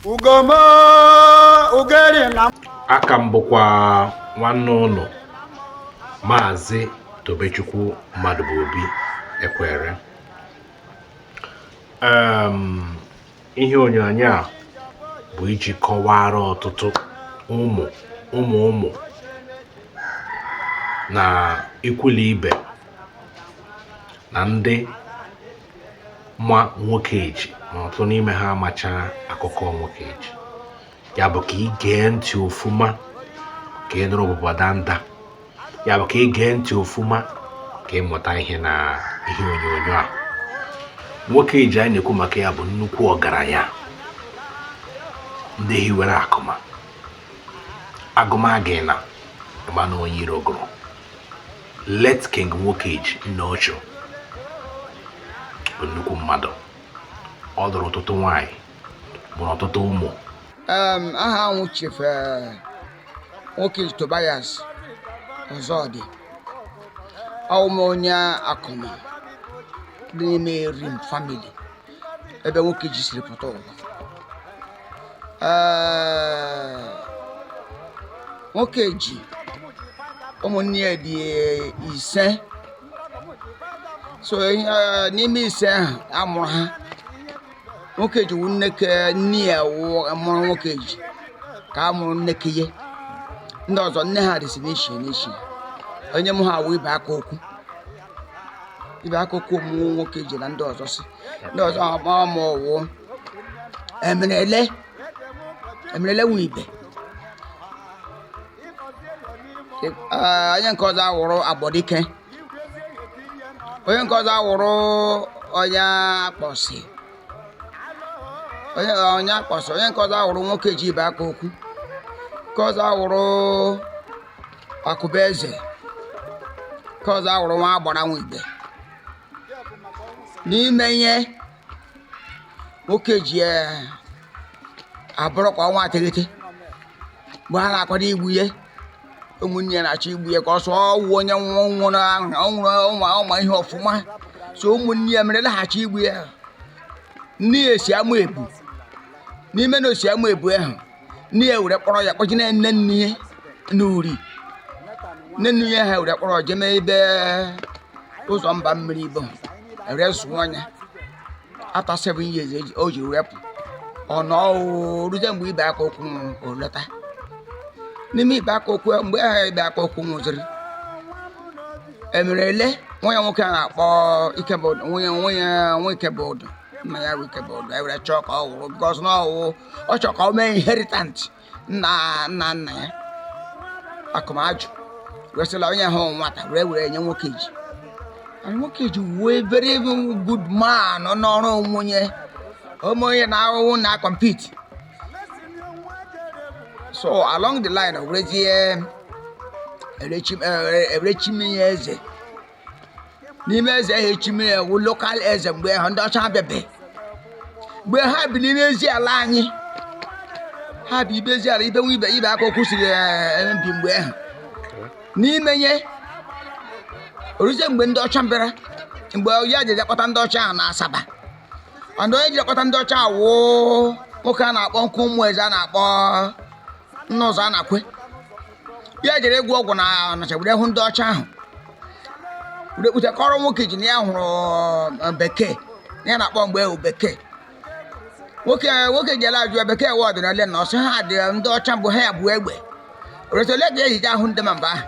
ugoma ugeri na aka m bụkwa nwanne unu maazị tobechukwu mmadụbụobi ekwere ihe onyonyo a bụ iji kọwara ọtụtụ ụmụ ụmụ ụmụ na ikwu na ibe na ndị ma nwokeji ma ọtụtụ n'ime ha amacha akụkọ nwokeji ya bụ ka ị gee ntị ofuma ka ị nụrụ ọbụbọ danda ya bụ ka ị gee ntị ofuma ka ị mụta ihe na ihe onyonyo a nwokeji anyị na-ekwu maka ya bụ nnukwu ọgaranya ndị hiwere akụma agụmagị na ị ma na onye iro gụrụ late king nwokeji nne ọchụ bụ nnukwu mmadụ ọ dụrụ ọtụtụ nwanyị mụrụ ọtụtụ ụmụ Em, aha m wụ chief eh, nwokeji tobias ọzọdị awụ m onye akụma dị n'ime erim family ebe nwokeji siri pụta ụwa nwokeji ụmụnne ya dị ise so n'ime ise ahụ a mụrụ ha nwokeji wụ nneke nne ya mụrụ nwokeji ka a mụrụ nneke ya ndị ọzọ nne ha dịsị n'iche iche onye mụ ha wụ ibeakaokwu ibeakaokwu mụ nwokeji na ndị ọzọ so ndị ọzọ ọ mụ wụ emerele emerele nwe ibe Ee, onye nke ọzọ awụrụ agbọdike onye nke ọzọ awụrụ onyeakpọsị onye onyeakpọsị onye nke ọzọ awụrụ nwokeji ibeakaokwu nke ọzọ awụrụ akụbueze nke ọzọ awụrụ nwagbara nwa ibe n'ime ihe nwokeji eh, abụrụ ka ọnwa teghete mgbe ha na-akwado igbu ya ụmụnne ya na-achọ igbu ya ka ọ sọ ọ wụ onye nwa nwụrụ ahụ ọ nwụrụ ọma ọ ma ihe ọfụma so ụmụnne ya mere la-achọ igbu ya nne ya si amaebu n'ime na o si amaebu ahụ nne ya were kpọrọ ya kpọje na nne nne ya n'uri nne nne ya ha were kpọrọ jeme ebe ụzọ mba mmiri ibo were zụọ ya after seven years eji- o ji were pụ ọ nọ oo, ruzie mgbe ibe aka okwu nwụrụ o lọta n'ime ibe aka okwu mgbe ahụ ibe aka okwu nwụziri emere ele nwa ya nwoke a na-akpọ ikebụdụ nwunye nwunye nwa ikebụdụ nna ya bụ ikebụdụ ewere chọọ ka ọ wụrụ because na ọ wụ ọ chọrọ ka ọ mee inheritant nna nna nna ya akụma ajụ wesịla onye ahụ nwata were were nye nwoke ji and nwoke ji wee very good man n'ọrụ onwunye ome onye na-ahụhụ na compete so along the line werezie ere chim eh, ere chime ya eze n'ime eze ahụ echime ya wụ local eze mgbe ahụ ndị ọcha bịabe mgbe ha bi n'ime ezi ala anyị ha bi ibe ezi ala ibe nwa ibe ibe aka okwu siri eh, bi mgbe ahụ n'ime ya oruzie mgbe ndị ọcha bịara mgbe ya ji kpọta ndị ọcha ahụ na asaba ọdụ onye ji kpọta ndị ọcha wụ nwoke a na-akpọ nke ụmụ eze a na-akpọ nna ụzọ a na-akwe ya jere ịgwọ ọgwụ na ọnịcha were hụ ndị ọcha ahụ were kpụta kọrọ nwoke ji na ya hụrụ eh, bekee na ihe a na-akpọ mgbe ahụ wụ bekee nwoke nwoke ji ala-ajụ ya bekee wa ọdịnala na ọ sị ha dị ndị ọcha mbụ ha ya bu egbe o re sị olee ka e ji eje ahụ ndị ma mba ahụ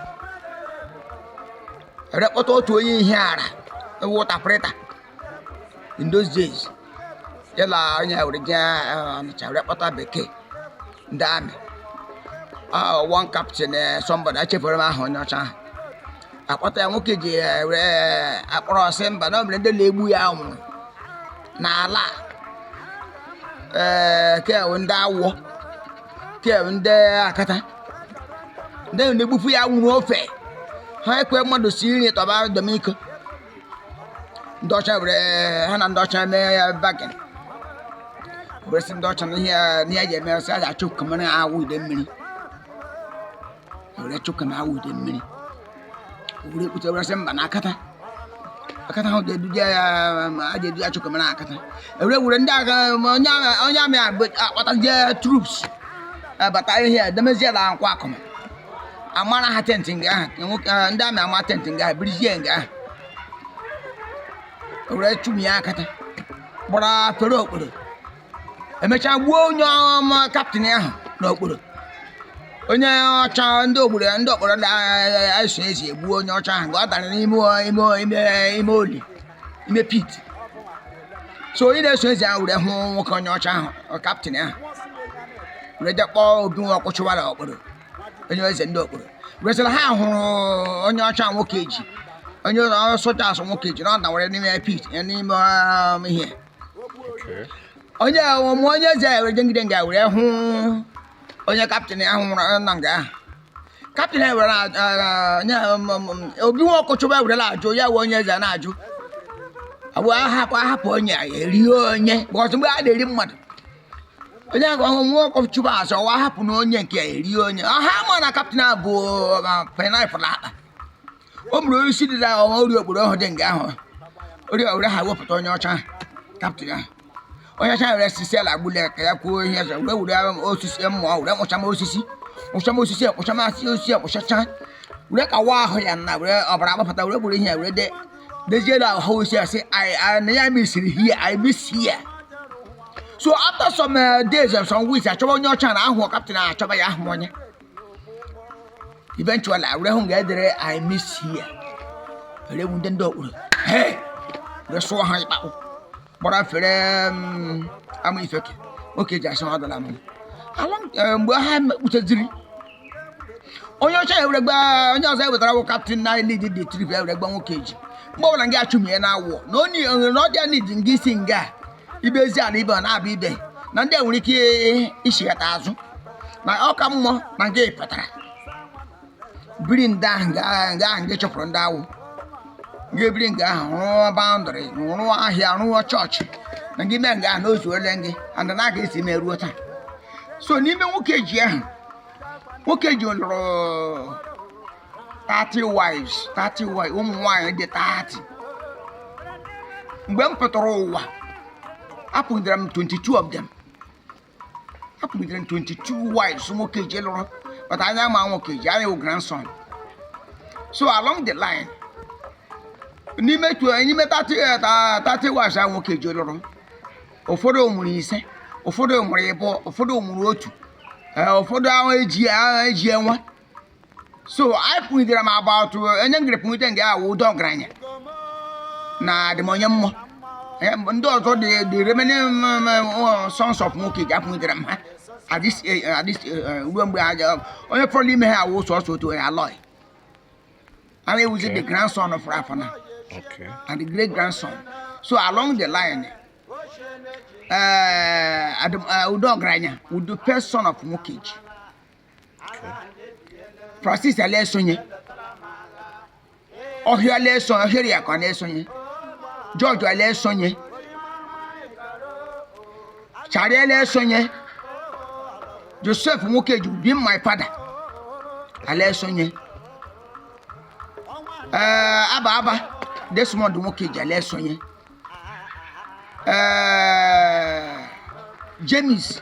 ere kpọta otu onye ihe ara wụ interpreter in those days ya na onye a were jee ọnịcha were kpọta bekee ndị army Ah, one captain eh, somebody echefere m aha onye ọcha ahụ akpọta ya nwoke ji eh, were eh, akpọrọ ọ sị mba na o nwere ndị na-egbu ya nwụrụ n'ala a. ee ke wụ ndị awọ ke wụ ndị akata ndị na-egbufu ya nwụrụ ofe ha ekwe mmadụ si nri tọba domiko ndị ọcha were ha na ndị ọcha mee ya bargain were sị ndị ọcha na ihe a- na ihe a ji eme sị a ga-achụkamara awọ idemmiri were chụka na awọ idemmiri were kpụta were sị mba na akata akata ahụ ga-eduje ya ma a ga-edu ya chụkamara akata ewere were ndị agha ma onye agha onye army akpọtazie troops abata ihe a demezie na nkwọ akụma a mara ha tent nga ahụ ndị army ama tent nga ahụ birizie nga ahụ were chụmie akata gbara fere okporo emechaa gbuo onye captain ahụ na okporo onye ọcha ndị ogburu ndị okporo na-eso ezi egbuo onye ọcha ahụ nga ọ dara n'ime ime ime oli ime pit so onye na-eso eze ahụ were hụ nwoke onye ọcha ahụ ọ captain ahụ were je kpọọ obi nwa ọkpụ chụwara okporo onye eze ndị okporo resịrị ha hụrụ onye ọcha Nwokeji onye ụlọ ọrụ soja asị Nwokeji na ọ dawara n'ime pit ya n'ime um, ihe Okay. onye ọmụ onye eze were jengide nga were hụ onye captain ahụ nwụrụ na nga ahụ captain ewere obi nwa ọkụchụba ewerela ajụ ya wee onye eze na-ajụ abụ ahapụ ahapụ onye ya erie onye because mgbe a na-eri mmadụ onye ahụ ọhụrụ nwa ọkụchụba azọ wa hapụ na onye nke ya erie onye ahụ ma na captain a bụ painapụl akpa o gburu onye isi dị na ọwa ori okporo ọhụrụ dị nga ahụ ori ọhụrụ ha wepụta onye ọcha captain ahụ onye ọcha were sisi ala gbule ka ya kwuo ihe ọzọ were were ahụ osisi mmụọ were kpụcha m osisi kpụcha m osisi kpụcha m asị osisi kpụchacha were kawa ahụ ya na were ọbara agbapụta were gburu ihe ya were de dezie na ahụ osisi asị "I- I- na ya missiri here i miss here so after some uh, days and some weeks achọba onye ọcha na ahụ captain ahụ achọba ya ahụ onye eventually a were hụ nga e dere i miss here were nwụde ndị Okporo were sụọ ha ikpe ahụ gbara fere Amaifeke Nwokeji asị ha dala mu along mgbe ha kputeziri onye ọcha ewere gba onye ọzọ ewetara wụ captain na lead the trip ewere gba Nwokeji mgbe ọbụla nga achụmie na Awọ na onye na ọdịa need nga isi nga ibe ezi ala ibe ọ na-abụ ibe na ndị a nwere ike ichighata azụ na ọ ka mma na nga ị pụtara biri ndị ahụ nga ahụ nke chụpụrụ ndị Awọ nga ebiri nga ahụ rụọ boundary rụọ ahịa rụọ church na gị mee nga ahụ n'ozu ole gị and na aga esi me ruo taa so n'ime Nwokeji ahụ Nwokeji lụrụ 30 wives 30 wives ụmụ nwaanyị dị 30 mgbe m pụtara ụwa apụgidere m 22 of them apụgidere m 22 wives Nwokeji lụrụ but anyị ama Nwokeji anyị wụ grandson so along the line n'ime tw- n'ime 30 eh, ta- 30 wives a Nwokeji lụrụ ụfọdụ mụrụ ise ụfọdụ mụrụ ịbụọ ụfọdụ mụrụ otu eh, ụfọdụ ahụ eji ahụ eji enwe so apụgidere m about onye ngere pụgide nga awụ Udo Ọgaranya na Adịmonyemma ndị ọzọ dị the remaining sons of Nwokeji apụgidere m ha at least eh, eh, eh, ruo mgbe aja onye fọrọ ime ha awụ sọsọ otu onye Aloy and he was the grandson of Rafana and the great grandson so along the line uh, Udo Ọgaranya wụ the first son of Nwokeji Francis ala esonye ọhịa ala esonye Ọhịaeriakụ ala esonye George ala esonye Charlie ala esonye Joseph Nwokeji being my father ala esonye ee aba aba Desmond Nwokeji ala esonye ee James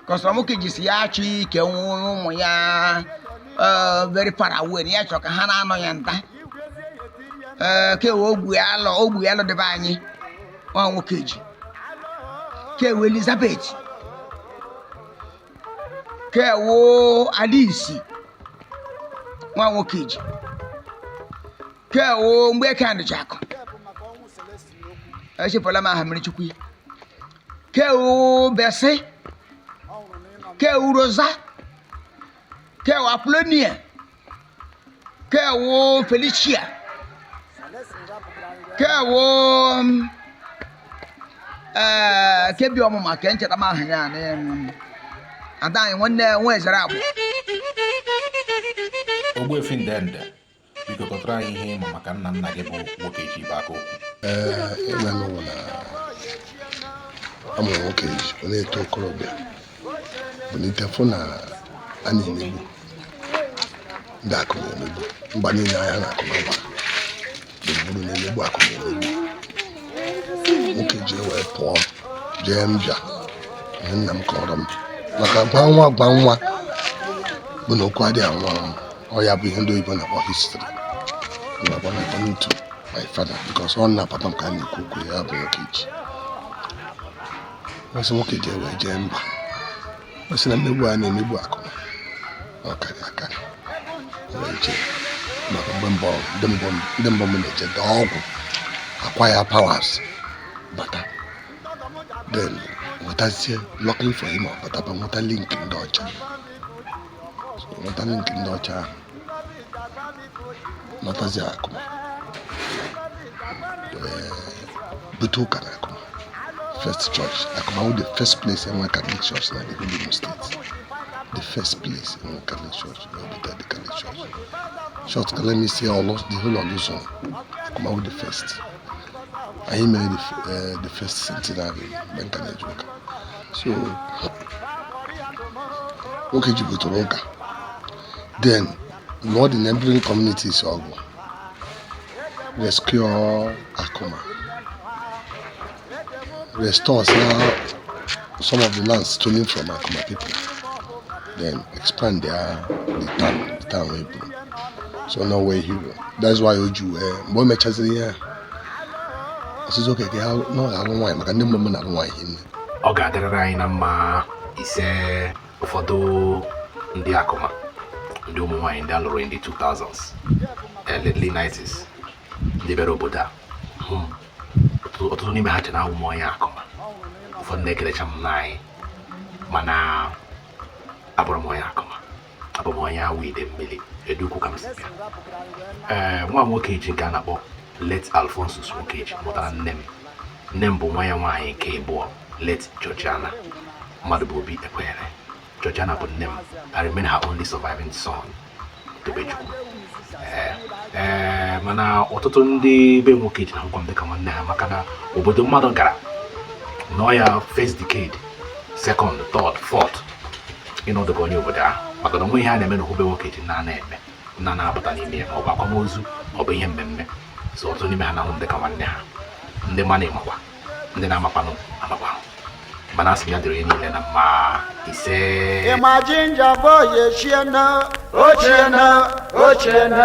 because Nwokeji sị ya achọ ikewe ụmụ ya eh, very far away na ya chọ ka ha na-anọ ya nta Eh, kewe ogbu ya alọ ogbu ya alọ debe anyị nwa Nwokeji kewe Elizabeth kewo Alice nwa Nwokeji kewo Mgbeke ndịchakụ echefula m aha mmiri chukwu ya ke obese ke uroza ke apolonia ke wo felicia ke wo ee ke bi ọmụma ke ncheta m aha ya na em, ada anyị nwanne nwa ezere abụ Ogbuefi Ndende biko kọtụrụ anyị ihe ị ma maka nna nna gị bụ Nwokeji bụ aka okwu ee ị manụ na a mụrụ Nwokeji ọ na-eto okorobịa bilite fụ na a na-emegbu ndị Akụma emegbu mba niile ha na Akụma gba gburugburu na-emegbu Akụma emegbu Nwokeji wee pụọ jee mbịa ihe nna m kọrọ m maka gwa nwa gwa nwa bụ na okwu adịghị anwụ anwụ ọ ya bụ ihe ndị oyibo na-akpọ history na-akpọ na according to my father because ọ na-apata m ka a na-ekwu okwu ya bụ Nwokeji mesị Nwokeji wee jee mba mesị na mmegbu a na-emegbu Akụma ọ karịa akarị wee jee maka mgbe mbụ ndị mbụ ndị mbụ na-eje dọọ ọgwụ acquire powers bata then nwetazie luckily for him ọ bataba nweta link ndị ọcha nweta link ndị ọcha ahụ lọtazie Akụma bute ụka na Akụma first church Akụma wụ the first place e nwe Catholic church na the Imo State the first place e nwe Catholic church na obodo the Catholic church in short ka let me say Orlu the whole of Orlu zone Akụma wụ the first anyị mere eh, the first centenary mgbe m ka na-eje ụka so Nwokeji butere ụka then lụọ the neighboring communities ọgụ rescue Akụma restore some of the lands stolen from Akụma people then expand their the town the town wey so no way hero that's why o ji wee mgbe o mechaziri ihe a ọsịsọ oke ka ha na ọ ga-alụ nwaanyị maka ndị mmemme na-alụ nwaanyị hinne ọ ga-adịrịrị anyị na mma ise ụfọdụ ndị akụma ndị ụmụ nwaanyị ndị alụrụ in the 2000s early 90s ndị bịara obodo a hmm. ọtụtụ n'ime ha che na awụ m onye akụma ụfọdụ na-ekelecha m nna anyị mana abụrụ m onye akụma abụ m onye awo idemili edeukwu ka m si bịa ee eh, nwa nwokeji nke a na-akpọ late alphonsus nwokeji mụtara nne m nne m bụ nwa ya nwaanyị nke abụọ late georgiana mmadụbụobi ekwenyere georgiana bụ nne m i remain her only surviving son tobechukwu ee eh, ee eh, mana ọtụtụ ndị be nwokeji na-ahụkwa m dịka nwanne ha maka na obodo mmadụ gara nọ ya first decade second third fourth ịnọdụ ka onye obodo ahụ maka na o nwee ihe a na-eme na okwu be nwokeji nna na-eme nna na-apụta n'ime ya ma ọ bụ akwamozu ọ bụ ihe mmemme so ọtụtụ n'ime ha na-ahụ m dịka nwanne ha ndị manụ makwa ndị na-amakwanụ amakwanụ mana asị m ya dịrị niile na mma ise i'm a ginger boy echiena ochiena ochiena